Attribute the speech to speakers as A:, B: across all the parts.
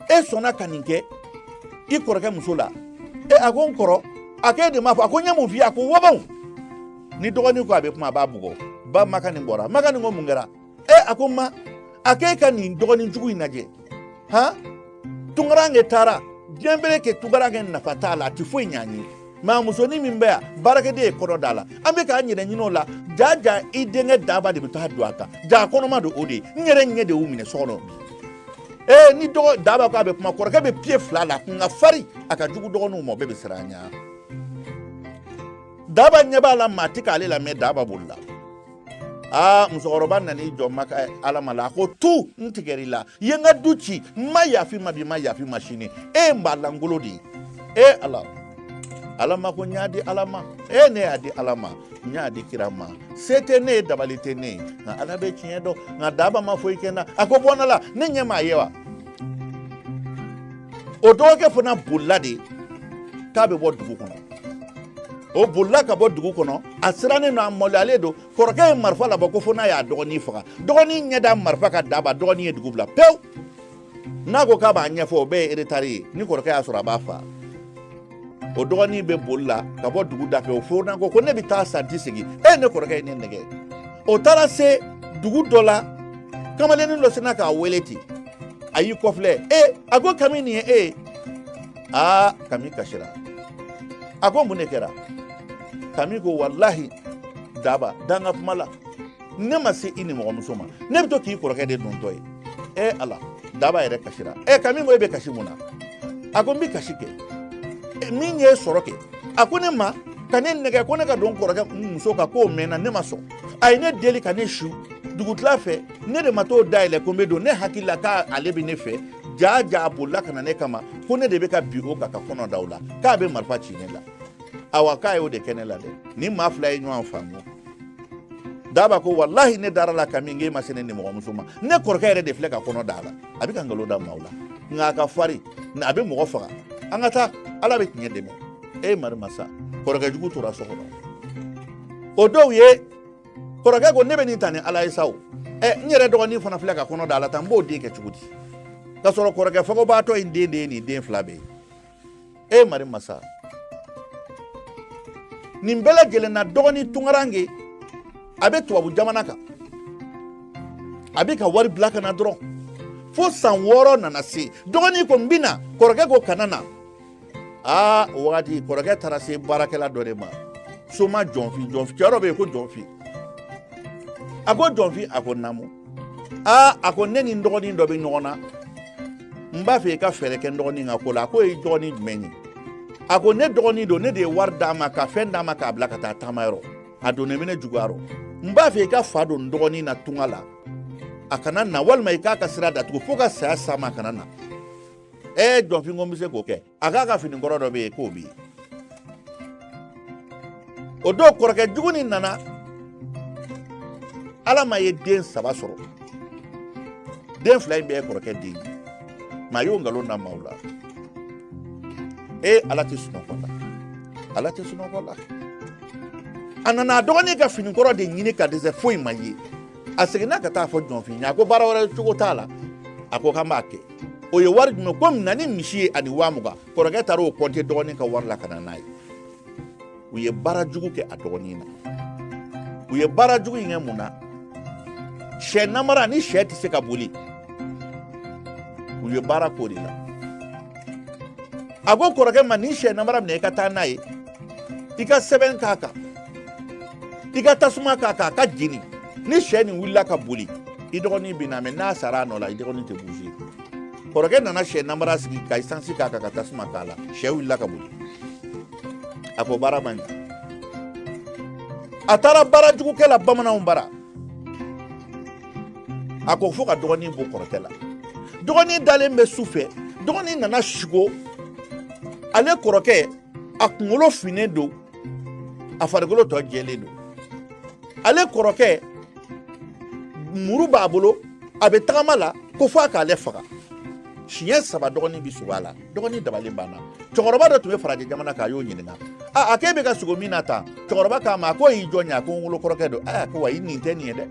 A: e sɔnna ka nin kɛ i kɔrɔkɛ muso la e a ko n kɔrɔ a ko e de m'a fɔ a ko n ye mun f'i ye a ko wabaw ni dɔgɔnin ko a bɛ kuma a b'a bugɔ ba makanin bɔra makanin ko mun kɛra e a ko ma a ko e ka nin dɔgɔnin jugu in lajɛ han tunkaranke taara diɲɛ bere kɛ tunkaranke nafa t'a la a tɛ foyi ɲ'an ye mɛ a musonin min bɛ yan baarakɛden ye kɔnɔ da a la an bɛ k'an yɛrɛ ɲinin o la jaa jaa i denkɛ daba de bɛ taa don a kan jaa kɔnɔma don o de ye n yɛrɛ ɲɛ de y'u minɛ so kɔnɔ ee ni dɔgɔ daba ko a bɛ kuma kɔrɔkɛ bɛ piye fila la kun ka fari a ka jugu dɔgɔninw ma o bɛɛ bɛ siran a ɲɛ daba ɲɛ b'a la maa tɛ k'ale lamɛn daba bolila aa musokɔrɔba nan'i jɔ maka ala ma la a ko tu n tigɛr'i la i ye n ka du ci n ma yaf'i ma bi n ma yaf'i ma sini e ye n ba lankolon de ye e ala ala ma ko n y'a di ala ma e ne y'a di ala ma n y'a di kira ma se tɛ ne ye dabali tɛ ne ye nka ala bɛ tiɲɛ dɔn nka daba ma foyi kɛ n na a ko bɔ n la ne ɲɛ m'a ye wa o dɔgɔkɛ fana bolila de k'a bɛ bɔ dugu kɔnɔ o bolila ka bɔ dugu kɔnɔ a sirannen don a maloyalen don kɔrɔkɛ ye marifa labɔ ko fo n'a y'a dɔgɔnin faga dɔgɔnin ɲɛ da marifa kan daba dɔgɔnin ye dugu bila pewu n'a ko k'a b'a ɲɛfɔ o bɛɛ ye eretari ye ni kɔrɔkɛ y'a sɔrɔ a b'a faa o dɔgɔnin bɛ boli la ka bɔ dugu da fɛ o fana ko ko ne bɛ taa sa n tɛ segin e ne kɔrɔkɛ ye ne nɛgɛn o taara se dugu dɔ la kamalennin dɔ sinna k'a wele ten a y'i kɔfilɛ e a ko kami nin ye e ye aa kami kasira a ko mun de kɛra kami ko walahi daba da n ka kuma la ne ma se i nimɔgɔmuso ma ne bɛ to k'i kɔrɔkɛ de dontɔ ye e ala daba yɛrɛ kasira e kami ko e bɛ kasi mun na a ko n bɛ kasi kɛ e, min ye n sɔrɔ kɛ a ko ne ma ka ne nɛgɛn ko ne ka don kɔrɔkɛ muso kan k'o mɛnna ne ma sɔn a ye ne deli ka na su dugutila fɛ ne de ma t'o dayɛlɛ ko n bɛ don ne hakili la k'ale bɛ ne fɛ jaa jaa a bolila ka na ne kama ko ne de bɛ ka bin o kan ka kɔnɔ da o la k'a bɛ marifa ci ne la awa k'a y'o de kɛ ne la dɛ nin maa fila ye ɲɔgɔn faamu daba ko walahi ne dara a la kami k'e ma se ne nimɔgɔmuso ma ne kɔrɔkɛ yɛrɛ de filɛ ka kɔnɔ da a la a bɛ ka nkalon da maaw la nka a ka fari a bɛ mɔgɔ faga an ka taa ala bɛ tiɲɛ dɛmɛ e mari masa kɔrɔkɛ jugu tora so kɔnɔ o dɔw ye kɔrɔkɛ ko ne bɛ nin ta ni ala ye sa o ɛ n yɛrɛ dɔgɔnin fana filɛ ka kɔnɔ da a la tan n b'o den kɛ cogo di ka sɔrɔ kɔrɔkɛ fagobaatɔ in den de ye nin den fila bɛɛ ye e mari masa nin bɛɛ lajɛlen na dɔgɔnin tunkaranke a bɛ tubabu jamana kan a bɛ ka wari bila ka na dɔrɔn fo san wɔɔrɔ nana se dɔgɔnin ko n bɛ na kɔrɔkɛ ko kana na aa o wagati kɔrɔkɛ taara se baarakɛla dɔ de ma soma jɔnfin jɔnfin cɛ dɔ bɛ yen ko jɔnfin a ko jɔnfin a ko naamu aa a ko ne ni n dɔgɔnin dɔ bɛ ɲɔgɔn na n b'a fɛ i ka fɛɛrɛ kɛ n dɔgɔnin ka ko la a ko i dɔgɔnin jumɛn ye a ko ne dɔgɔnin don ne de ye wari d'a ma ka fɛn d'a ma k'a bila ka taa taamayɔrɔ a donnen bɛ ne juguya rɔ n b'a fɛ i ka fa don n dɔgɔnin na tunga la a kana na walima i k'a ka sira datugu fo ka saya s'a ma a kana na e jɔnfin ko n bɛ se k'o kɛ a k'a ka fini kɔrɔ dɔ bɛ yen k'o bɛ yen o don kɔrɔkɛ jugu nin nana ala ma ye den saba sɔrɔ den fila in bɛɛ ye kɔrɔkɛ den ye maa y'o nkalon da maaw la e ala tɛ sunɔgɔ la ala tɛ sunɔgɔ la a nana a dɔgɔnin ka fini kɔrɔ de ɲini ka dɛsɛ foyi ma ye a seginna ka taa fɔ jɔnfin ye a ko baara wɛrɛ cogo t'a la a ko k'an b'a kɛ o ye wari jumɛn ko na ni misi ye ani waa mugan kɔrɔkɛ taara o kɔnte dɔgɔnin ka wari la ka na n'a ye u ye baara jugu kɛ a dɔgɔnin na u ye baara jugu in kɛ mun na sɛ nabara ni sɛ tɛ se ka boli u ye baara k'o de la a ko kɔrɔkɛ ma nin sɛ nabara minɛ i ka taa n'a ye i ka sɛbɛn k'a kan i ka tasuma k'a kan a ka jeni ni sɛ nin wulila ka boli i dɔgɔnin bɛ na mɛ n'a sara a nɔ la i dɔgɔnin tɛ buze kɔrɔkɛ nana sɛ nabara sigi ka isansi k'a kan ka tasuma k'a la sɛ wulila ka boli a ko baara ma ɲɛ a taara baarajugukɛla bamananw bara a ko fo ka dɔgɔnin bon kɔrɔtɛ la dɔgɔnin dalen bɛ su fɛ dɔgɔnin nana sigo ale kɔrɔkɛ a kunkolo finnen don a farikolo tɔ jɛlen don ale kɔrɔkɛ muru b'a bolo a bɛ tagama la ko fo a k'ale faga siɲɛ saba dɔgɔnin bɛ sugo a la dɔgɔnin dabali banna cɛkɔrɔba dɔ tun bɛ farajɛ jamana kan a y'o ɲininka a a k'e bɛ ka sugo min na tan cɛkɔrɔba k'a ma a ko y'i jɔn ye a ko n wolo kɔrɔkɛ don aa ko wa i nin tɛ nin ye dɛ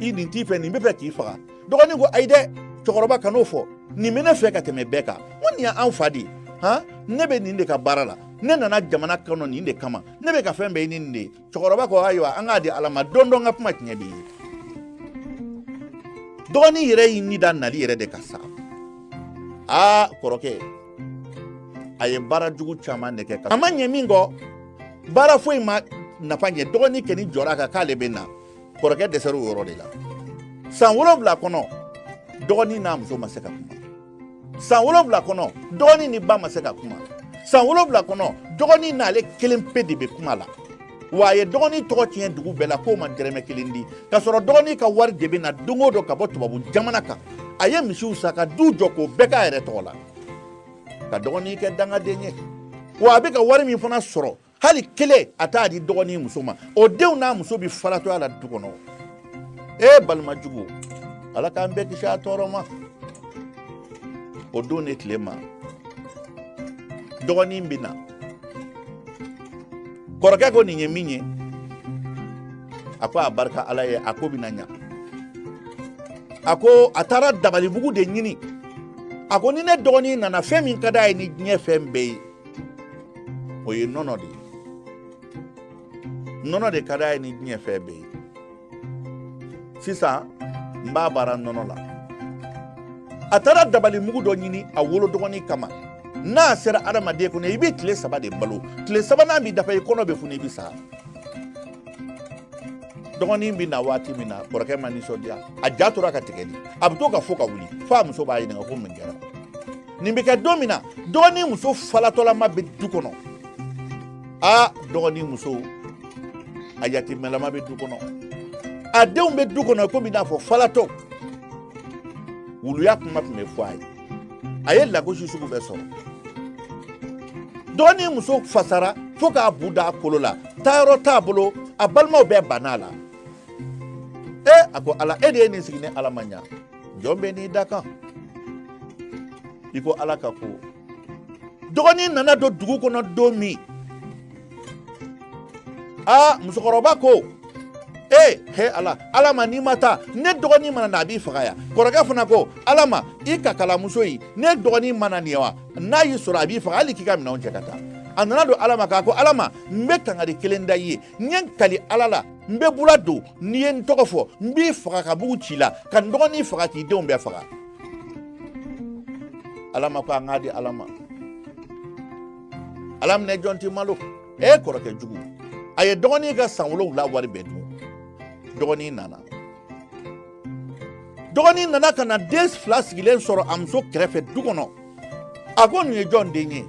A: i nin t'i fɛ nin bɛ fɛ k'i faga dɔgɔnin ko ayi dɛ cɛkɔrɔba kan'o fɔ nin bɛ ne fɛ ka tɛmɛ bɛɛ kan ko nin y'an fa de ye han ne bɛ nin de ka baara la ne nana jamana kɔnɔ nin de kama ne bɛ ka fɛn bɛɛ ɲini nin de ye cɛkɔrɔba ko ayiwa an k'a di ala ma don dɔ n ka kuma tiɲɛ bɛ ye dɔgɔnin yɛrɛ y'i ni da nali yɛrɛ de kan sa aa kɔrɔkɛ a ye baara jugu caman de kɛ a ma ɲɛ min kɔ baara foyi ma nafa ɲɛ dɔgɔnin kɛni jɔra a kan k'ale bɛ na kɔrɔkɛ dɛsɛra o yɔrɔ de la san wolonwula kɔnɔ dɔgɔnin n'a muso ma se ka kuma san wolonwula kɔnɔ dɔgɔnin ni ba ma se ka kuma san wolonwula kɔnɔ dɔgɔnin n'ale kelen pe de bɛ kuma la wa a ye dɔgɔnin tɔgɔ tiɲɛ dugu bɛɛ la k'o ma dɛrɛmɛ kelen di k'a sɔrɔ dɔgɔnin ka wari de bɛ na don o don ka bɔ tubabu jamana kan a ye misiw san ka du jɔ k'o bɛɛ k'a yɛrɛ tɔgɔ la ka dɔgɔnin kɛ dangaden ye wa a bɛ ka wari min fana sɔrɔ hali kelen a t'a di dɔgɔnin muso ma o denw n'a muso bɛ falatɔya la du kɔnɔ e balima jugu ala k'an bɛɛ kisi a tɔɔrɔ ma o don ni tile ma dɔgɔnin bɛ na kɔrɔkɛ ko nin ye min ye a ko a barika ala ye a ko bɛna ɲa a ko a taara dabali mugu de ɲini a ko ni ne dɔgɔnin nana fɛn min ka d'a ye ni diɲɛ fɛn bɛɛ ye o ye nɔnɔ de ye nɔnɔ de ka d'a ye ni diɲɛ fɛn bɛɛ ye sisan n b'a baara nɔnɔ la a taara dabali mugu dɔ ɲini a wolo dɔgɔnin kama n'a sera adamaden kɔnɔ i bɛ tile saba de balo tile sabanan bɛ dafa i kɔnɔ bɛ funu i bɛ sa dɔgɔnin bɛ na waati min na kɔrɔkɛ ma nisɔndiya a ja tora ka tigɛ di a bɛ to ka fo ka wuli fo a muso b'a ɲininka ko mun kɛra nin bɛ kɛ don min na dɔgɔnin muso falatɔlama bɛ du kɔnɔ a dɔgɔnin muso a yatimɛlama bɛ du kɔnɔ a denw bɛ du kɔnɔ komi i n'a fɔ falatɔ wuluya kuma tun bɛ fɔ a ye a ye lagosi sugu bɛɛ sɔrɔ dɔgɔnin muso fasara fo k'a bu da a kolo la taayɔrɔ t'a bolo a balimaw bɛɛ banna a la e a ko ala e de ye nin sigi ni ala ma ɲa jɔn bɛ n'i da kan i ko ala ka ko dɔgɔnin nana don dugu kɔnɔ don min aa musokɔrɔba ko ee he ala alama n'i ma taa ne dɔgɔnin mana na a b'i faga yan kɔrɔkɛ fana ko alama i kakalamuso ye ne dɔgɔnin mana nin ye wa n'a y'i sɔrɔ a b'i faga hali k'i ka minɛnw cɛ ka taa a nana don alama kan a ko alama n bɛ kangari kelen da i ye n ye n kali ala la n bɛ bula don n'i ye n tɔgɔ fɔ n b'i faga ka bugu ci la ka n dɔgɔnin faga k'i denw bɛɛ faga alama ko an k'a di ala ma ala minɛ jɔn tɛ malo e kɔrɔkɛ jugu a ye dɔgɔnin ka san wolonwula wari bɛɛ dun dɔgɔnin nana dɔgɔnin nana ka na den fila sigilen sɔrɔ a muso kɛrɛfɛ du kɔnɔ a ko nin ye jɔn den ye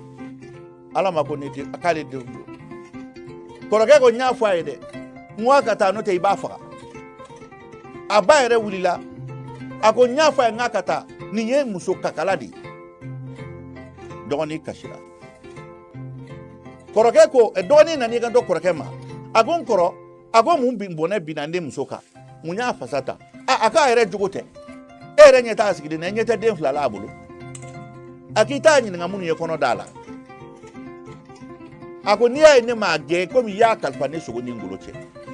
A: alama ko k'ale denw don kɔrɔkɛ ko n y'a fɔ a ye dɛ n ko a ka taa n'o tɛ i b'a faga a ba yɛrɛ wulila a ko n y'a fɔ a ye n k'a ka taa nin ye muso kakala de ye dɔgɔnin kasira kɔrɔkɛ ko dɔgɔnin nana i kanto kɔrɔkɛ ma a ko n kɔrɔ a ko mun bɔnɛ binna ne muso kan mun y'a fasa ta a k'a yɛrɛ jogo tɛ e yɛrɛ ɲɛ t'a sigilen na ɲɛ tɛ den fila la a bolo a k'i t'a ɲininka minnu ye kɔnɔ d'a la a ko n'i y'a ye ne m'a gɛn komi i y'a kalifa ne sogo ni n golo cɛ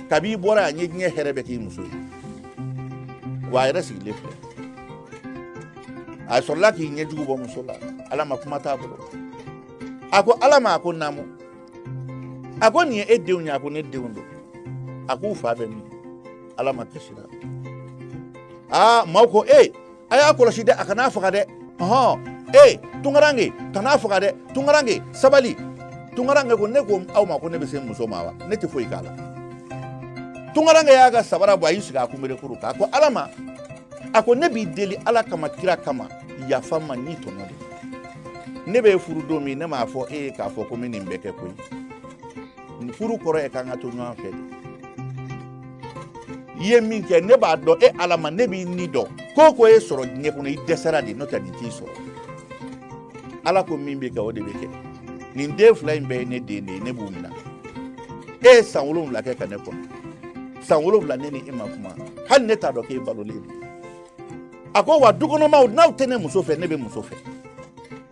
A: kabi i bɔra yan n ye diɲɛ hɛrɛ bɛɛ k'i muso ye wa a yɛrɛ sigilen filɛ a sɔrɔla k'i ɲɛjugu bɔ muso la alama kuma t'a bolo a ko alama a ko naamu a ko nin ye e denw ye a ko ne denw don a k'u fa bɛ min alama kasila aa maaw ko ee a y'a kɔlɔsi dɛ a kan'a faga dɛ ɔhɔn ee tunkarange kan'a faga dɛ tunkarange sabali tunkarange ko ne ko aw ma ko ne bɛ se muso ma wa ne tɛ foyi k'a la tunkarange y'a ka sabara bɔ a y'i sigi a kunberekuru kan a ko alama a ko ne b'i deli ala kama kira kama yafa n ma n y'i tɔɲɔ de ne bɛ furu don min ne m'a fɔ e ye k'a fɔ ko n bɛ nin bɛɛ kɛ koyi furu kɔrɔ ye k'an ka to ɲɔgɔn fɛ de i ye min kɛ ne b'a dɔn e alama ne b'i ni dɔn ko ko y'e sɔrɔ diɲɛ kɔnɔ i dɛsɛra de n'o tɛ nin t'i sɔrɔ ala ko min bɛ kɛ o de bɛ kɛ nin den fila in bɛɛ ye ne den de ye ne b'u minɛ e ye san wolonwula kɛ ka ne kɔnɔ san wolonwula ne ni e ma kuma hali ne t'a dɔn k'e balolen don a ko wa dukɔnɔmaw n'aw tɛ ne muso fɛ ne bɛ muso fɛ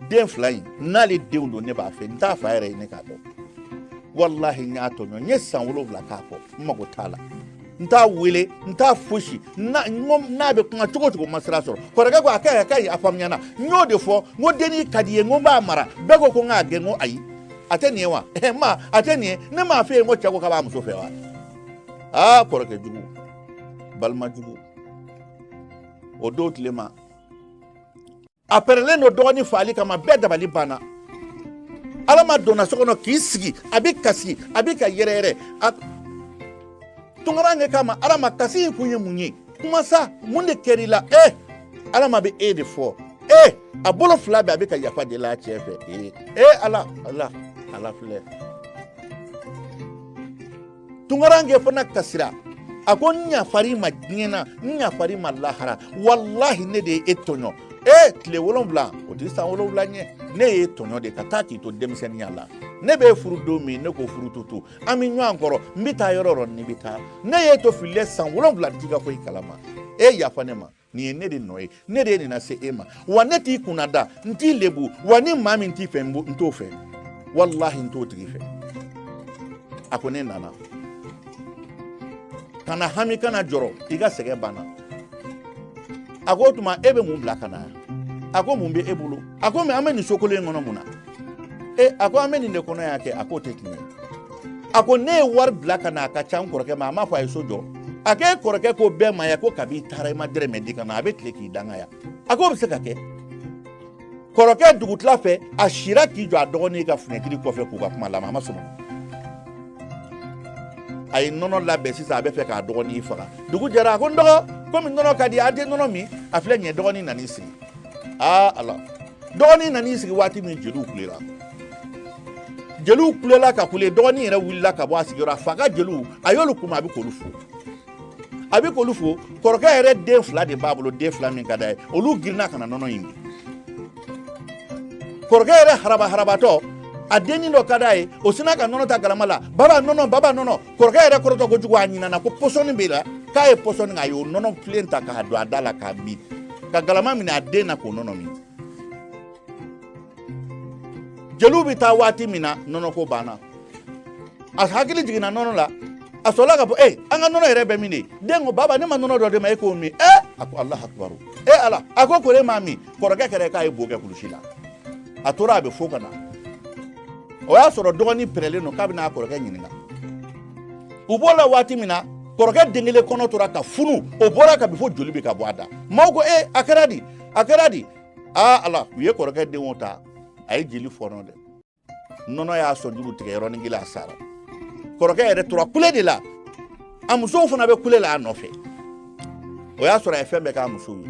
A: den fila in n'ale denw don ne b'a fɛ n t'a fa yɛrɛ ɲini k'a dɔn walahi n y'a tɔɲɔ n ye san wolonwula k'a kɔ n mago t'a la n t'a wele n t'a fosi n'a bɛ kuma cogo o cogo ma sira sɔrɔ kɔrɔkɛ ko a ka ɲi a ka ɲi a faamuyana n y'o de fɔ n ko denni ka di n ye n ko n b'a mara bɛɛ ko ko n k'a gɛn n ko ayi a tɛ nin ye wa ma a tɛ nin ye ne m'a f'e ye n ko cɛ ko k'a b'a muso fɛ wa aa kɔrɔkɛ jugu balima jugu o don tile ma a pɛrɛlen don dɔgɔnin faali kama bɛɛ dabali banna alama donna so kɔnɔ k'i sigi a bɛ kasi a bɛ ka yɛrɛyɛrɛ tunkarankɛ k'a ma alama kasi in kun ye mun ye kuma sa mun de kɛra i la e alama bɛ e de fɔ e a bolo fila bɛ a bɛ ka yafa deli a cɛ fɛ e e ala ala ala filɛ tunkarankɛ fana kasira a ko n yafar'i ma diɲɛ na n yafar'i ma lahara walahi ne de ye e tɔɲɔ e tile wolonwula o tɛ san wolonwula ɲɛ ne y'e tɔɲɔ de ka taa k'i to denmisɛnninya la ne bɛ furu don min ne ko furu tutu an bɛ ɲɔgɔn kɔrɔ n bɛ taa yɔrɔ o yɔrɔ n'i bɛ taa ne y'e to fili san wolonwula n t'i ka foyi kalama e yafa ne ma nin ye ne de nɔ ye ne de ye nin lase e ma wa ne t'i kunnada n t'i lebu wa ni maa min t'i fɛ n t'o fɛ walahi n t'o tigi fɛ a ko ne nana kana hami kana jɔrɔ i ka sɛgɛn banna a ko o tuma e bɛ mun bila ka na a ko mun bɛ e bolo a ko mɛ an bɛ nin so kolo in kɔnɔ mun na e a ko an bɛ nin de kɔnɔ y'a kɛ a k'o tɛ tiɲɛ ye a ko ne ye wari bila ka na a ka ca n kɔrɔkɛ ma a m'a fɔ a ye so jɔ a k'e kɔrɔkɛ ko bɛɛ ma yan ko kabi i taara i ma dɛrɛmɛ di ka na a bɛ tile k'i danga yan a k'o bɛ se ka kɛ kɔrɔkɛ dugutila fɛ a sira k'i jɔ a dɔgɔnin ka funɛtiri kɔfɛ k'u ka kuma lamɛn a ma sɔn a ye nɔnɔ labɛn sisan a bɛ fɛ k'a dɔgɔnin faga dugu jɛra a ko n dɔgɔ komi nɔnɔ ka di an tɛ nɔnɔ min a filɛ nin ye dɔgɔnin nan'i sigi aa ala dɔgɔnin nan'i sigi waati min jeliw kulela jeliw kulela ka kule dɔgɔnin yɛrɛ wulila ka bɔ a sigiyɔrɔ a fa ka jeliw a y'olu kunbɛn a bɛ k'olu fo a bɛ k'olu fo kɔrɔkɛ yɛrɛ den fila de b'a bolo den fila min ka d'a ye olu girinna ka na nɔnɔ in min kɔrɔkɛ yɛrɛ haraba harabatɔ a dennin dɔ ka d'a ye o sina ka nɔnɔ ta galama la baba nɔnɔ baba nɔnɔ kɔrɔkɛ yɛrɛ kɔrɔtɔ kojugu a ɲinana ko pɔsɔni b'i la k'a ye pɔsɔni k'a y'o nɔnɔ filen ta k'a don a da la k'a min ka galama minɛ a den na k'o nɔnɔ min jeliw bɛ taa waati min na nɔnɔko banna a hakili jiginna nɔnɔ la a sɔrɔla ka fɔ ee an ka nɔnɔ yɛrɛ bɛ min de den ko baba ne ma nɔnɔ dɔ d'e ma e k'o min ee a ko alahu akibaru ee ala a ko kor'e m'a min kɔrɔkɛ kɛra k'a ye bo kɛ kulusi la a tora a bɛ fo ka na o y'a sɔrɔ dɔgɔnin pɛrɛlen don k'a bɛ n'a kɔrɔkɛ ɲininka u b'o la waati min na kɔrɔkɛ den kelen kɔnɔ tora ka funu o bɔra ka bin fo joli bɛ ka bɔ a da maaw ko ee a kɛra di a kɛra di aa ala u ye kɔrɔkɛ denw ta a ye jeli fɔɔnɔ dɛ nɔnɔ y'a sɔnjuru tigɛ yɔrɔnin kelen a sara kɔrɔkɛ yɛrɛ tora kule de la a musow fana bɛ kule la a nɔfɛ o y'a sɔrɔ a ye fɛn bɛɛ k'a musow ye